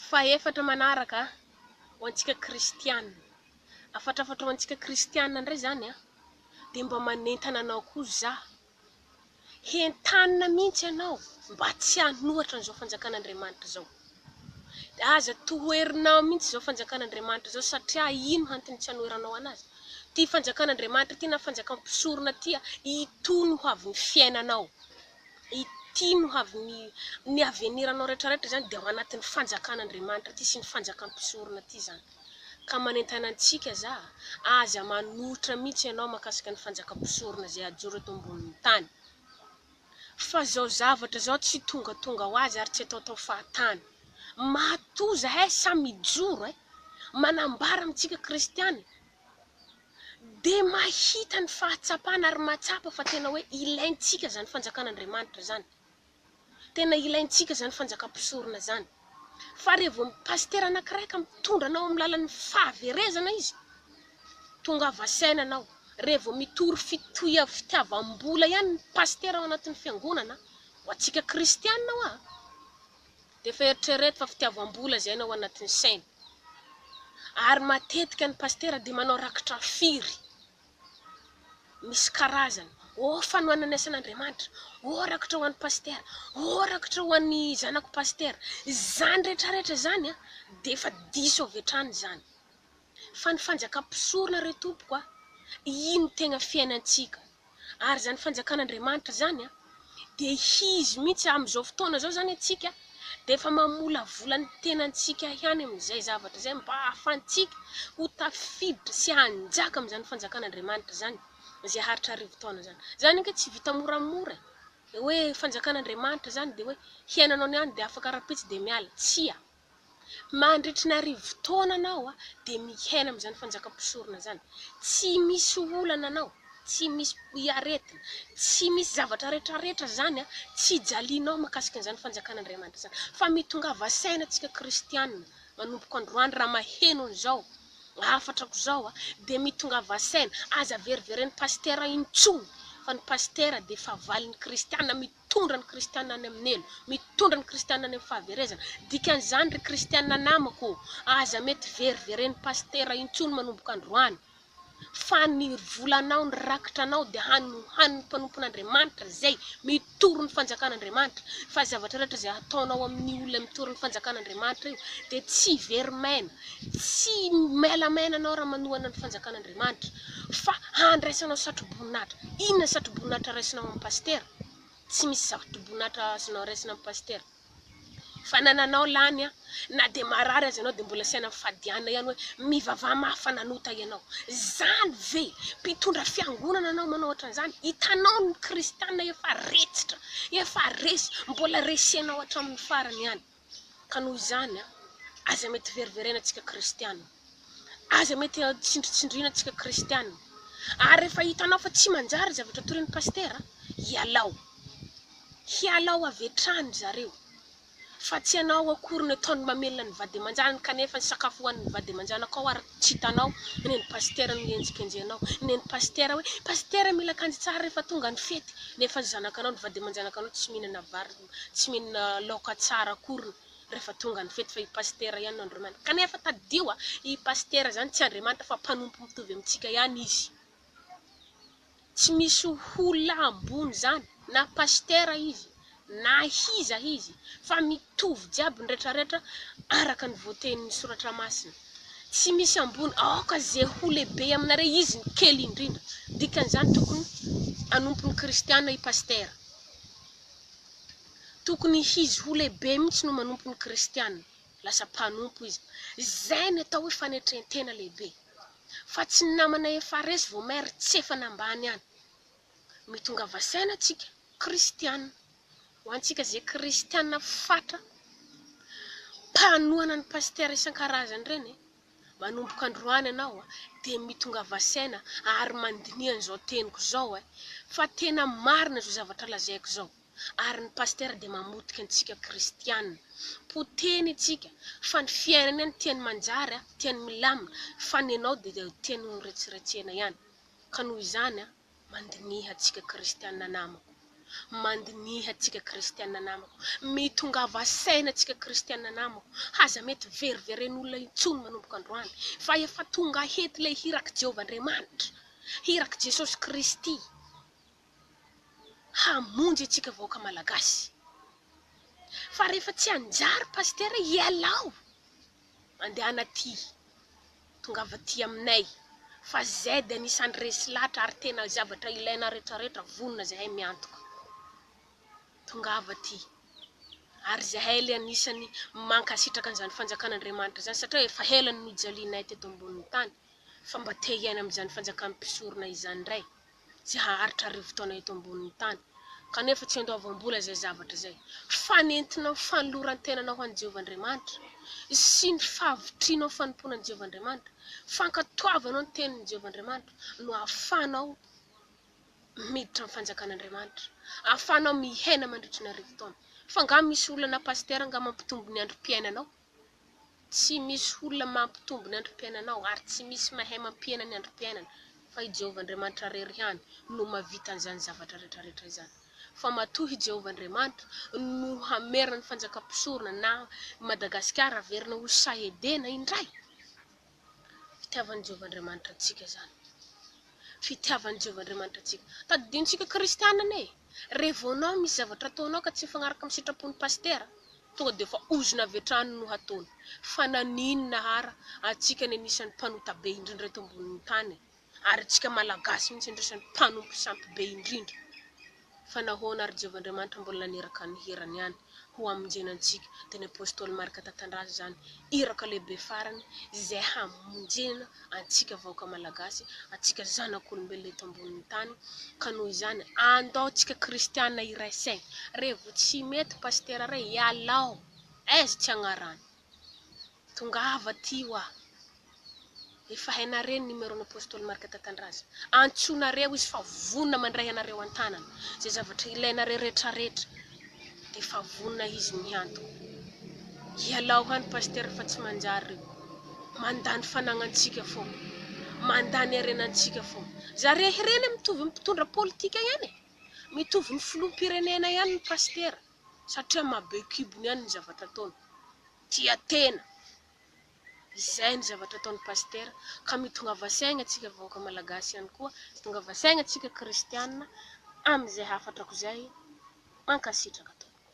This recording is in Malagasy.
Fahefatra manaraka, ho antsika kristiana. Afatrafatra ho antsika kristiana indray izany an! Dia mba manentana anao koa za, hentanina mihitsy ianao mba tsy hanohatra an'izao fanjakan'Andriamanitra izao. Dia aza toherinao mihitsy izao fanjakan'Andriamanitra izao satria ino antony tsy hanoheranao anazy? Ity fanjakan'Andriamanitra ity na fanjakan'ny mpisorona ity, itony ho avin'ny fiainanao. Ity no avy ny ny aveniranao rehetrarehetra izany dia ao anatin'ny fanjakan'Andriamanitra ity sy ny fanjakan'ny mpisorona ity izany. Ka manentana antsika za a, aza manohitra mihitsy ianao mahakasika ny fanjakan'ny mpisorona izay hajoro eto ambonin'ny tany. Fa izao zavatra izao tsy tongatonga ho azy ary tsy ataotao fahatany. Matoa izahay samy hijoro e! Manambara amintsika kristiana e! dia mahita ny fahatsapana ary mahatsapa fa tena hoe ilaintsika izany fanjakan'Andriamanitra izany. Tena ilaintsika izany fanjakam-pisorona izany. Fa rehefa vao pasitera anankiray ka mitondra anao amin'ny lalan'ny fahaverezana izy, tongava saina ianao. Rehefa vao mitory fitohia fitiavam-bola ihany ny pasitera ao anatin'ny fiangonana, ho antsika kristiana hoa, Dia efa eritrereto fa fitiavam-bola izay no ao anatin'ny sainy. Ary matetika ny pasitera dia manao rakitra firy misy karazany. Ô fanohanana isan'Andriamanitra, ô rakitra ho an'ny pasitera, ô rakitra ho an'ny zanako pasitera. Izany rehetra rehetra izany dia efa diso avy hatrany izany. fa ny fanjakam-pisorona re tompoko a, iny no tegna fiainantsika, ary zany fanjakan'Andriamanitra zany a, de hizy mintsy amzao fotoana zao zany antsika de efa mamolavola ny tenantsika ihany amzay zavatra zay mba ahafantsika ho tafiditra sy hanjaka amzany fanjakan'Andriamanitra zany zay haritra arivo taona zany, zany ange tsy vita moramora e, hoe fanjakan'Andriamanitra zany de hoe hiainanao niany de afaka rapitso de miala, tsia. Mandritry ny arivo taona anao dia mihaina amin'izany fanjakam-pisorona izany. Tsy misy olana anao, tsy misy aretina, tsy misy zavatra retraretra izany tsy hijalianao mahakasika an'izany fanjakan'Andriamanitra izany. Fa mitongava saina isika kristiana manomboka androany raha maheno an'izao hafatrako izao dia mitongava saina. Aza veriveren'ny pasitera intsony fa ny pasitera dia fahavalon'ny kristiana. Mitondra ny kristiana any amin'ny helo. Mitondra ny kristiana any amin'ny fahaverezana. Dikan'izany ry kristiana namako ô, aza mety veriveren'ny pasitera intsony manomboka androany. Fa ny volanao, ny rakitranao dia hanohan'ny mpanompon'Andriamanitra izay mitory ny fanjakan'Andriamanitra. Fa zavatra rehetra izay ataonao amin'ny olona mitory ny fanjakan'Andriamanitra io dia tsy very maina. Tsy maila maina anao raha manohana ny fanjakan'Andriamanitra. Fa handraisanao satroboninahitra. Inona ny satroboninahitra raisinao amin'ny pasitera? Tsy misy satroboninahitra azonao raisina amin'ny pasitera. Fanananao lany an! Na dia marary aza ianao dia mbola sahy nifadiana ihany hoe mivavaha mafy fa nanota ianao. Izany ve? Mpitondra fiangonana anao manao ohatran'izany? Hitanao ny kristiana efa retsitra, efa resy, mbola resenao hatramin'ny farany ihany. Ka noho izany, aza mety veriverena tsika kristiana, aza mety tsindritsindriana tsika kristiana, ary rehefa hitanao fa tsy manjary zavatra torin'ny pasitera, ialao, hialao avy hatrany zareo, fa tsy ianao akory no ataony mamelona ny vady aman-janany, kanefa ny sakafo hohanin'ny vady aman-janako ao ary tsy hitanao, ny an'ny pasitera no henjikenjenao, ny an'ny pasitera hoe, pasitera mila akanjo tsara rehefa tonga ny fety, nefa ny zanakanao, ny vady aman-janakanao tsy mihinana vary. io tsy mihinana laoka tsara akoriny rehefa tonga ny fety fa i pasitera ihany no Andriamanitra kanefa tadidio a i pasitera izany tsy Andriamanitra fa mpanompo mitovy amintsika ihany izy tsy misy olona ambony izany na pasitera izy na iza izy fa mitovy jiaby ny rehetra rehetra araka ny voatenin'ny soratra masina tsy misy ambony aoka ze ho lehibe aminareo izy ny kely indrindra dikan'izany tokony hanompo ny kristiana i pasitera Tokony hizy ho lehibe mihitsy no manompo ny kristiana, lasa mpanompo izy. Izay no atao hoe fanetrentena lehibe. Fa tsy ny namana efa resy vao maire tsy efa nambany any. Mitongava saina tsika kristiana. Ho antsika ze kristiana fatra mpanohana ny pasitera isan-karazany ireny e. Manomboka androany ianao dia mitongava saina ary mandiniha izao teniko izao eh! Fa tena marina izao zavatra lazaiko izao ary ny pasitera dia mamotika antsika kristiana. Potehiny antsika fa ny fiainany any tiany manjary an, tiany milamina fa ny anao dia tiany horetseretsena ihany ka noho izany an! Mandiniha antsika kristiana namako, mandiniha antsika kristiana namako, mitongava saina antsika kristiana namako, aza mety veriveren'olona intsony manomboka androany, fa efa tonga hety ilay hirak'i Jehovah Andriamanitra, hirak'i Jesosy Kristy, hamonjy antsika vahoaka Malagasy. Fa rehefa tsy hanjary Pasitera, ialao! Mandehana aty, tongava aty aminay fa Z anisan'ny resy latra ary tena zavatra ilaina retraretra vonona zahay miantoka tongava aty ary zahay le anisan'ny mankasitraka an'izany fanjakana Andriamanitra izany satria efa ela no nijalianay teto ambonin'ny tany fa mba te hiaina amin'izany fanjakan'ny mpisorona izany ndray tsy haharitra arivo taona eto ambonin'ny tany, kanefa tsy andoavam-bola izay zavatra izay. Fanentinao ny fanoloran-tenanao ho an'i Jehovah Andriamanitra, sy ny fahavitrianao ny fanompoana an'i Jehovah Andriamanitra, fankatoavanao ny Tenin'i Jehovah Andriamanitra, no ahafahanao miditra amin'ny Fanjakan'Andriamanitra, ahafahanao miaina mandritra ny arivo taona. Fa angaha misy olana, Pasitera, angaha mampitombo ny androm-piainanao? Tsy misy olona mampitombo ny androm-piainanao, ary tsy misy mahay mampihena ny androm-piainana, fa i Jehovah Andriamanitra irery ihany no mahavita an'izany zavatra rehetrarehetra izany. Fa matoa i Jehovah Andriamanitra no hamerina ny fanjakam-pisorona na i Madagasikara haverina ho sahy Edena indray! Fitiavan'i Jehovah Andriamanitra antsika izany. Fitiavan'i Jehovah Andriamanitra antsika. Tadidintsika kristiana anie e! Raha vao anao misy zavatra ataonao ka tsy mifanaraka amin'ny sitrapon'ny pasitera, tonga dia efa ozona avy hatrany no hataony. Fa naninona ara antsika no anisan'ny mpanota be indrindra eto ambonin'ny tany e? ary tsika malagasy mintsy indrisy no mpanompo sampy be indrindra fa nahoana ary jehovah andriamanitra mbola naniraka ny hirany ihany ho hamonjena antsika dia ny apostoly marka tatandraza izany iraka lehibe farany izay hamonjena antsika vahoaka malagasy antsika zanak'olombelona eto ambonin'ny tany ka noho izany andao tsika kristiana iray saigny revo tsy mety pasitera ray ialao aiz tsy agnarano Tongava aty hoa. Efa hainareo ny numéro ny Apostoly Marc Tatandraza. Antsoinareo izy fa vonona mandray anareo an-tanana. Izay zavatra ilainareo retraretra dia efa vonona izy ny hiantoka. Ialao any Pasteur fa tsy manjary reo. Mandany fananantsika foana. Mandany harenantsika foana. Zareo hireny mitovy amin'ny mpitondra politika ihany e. Mitovy ny filoham-pirenena ihany ny Pasitera. satria maha be kibony ihany ny zavatra ataony, tia tena, izay ny zavatra ataony pasitera, ka mitongava saigna atsika vahoaka malagasy ihany koa, mitongava saigna atsika kristiana, amin'izay hafatrako izay, mankasitraka tompoko.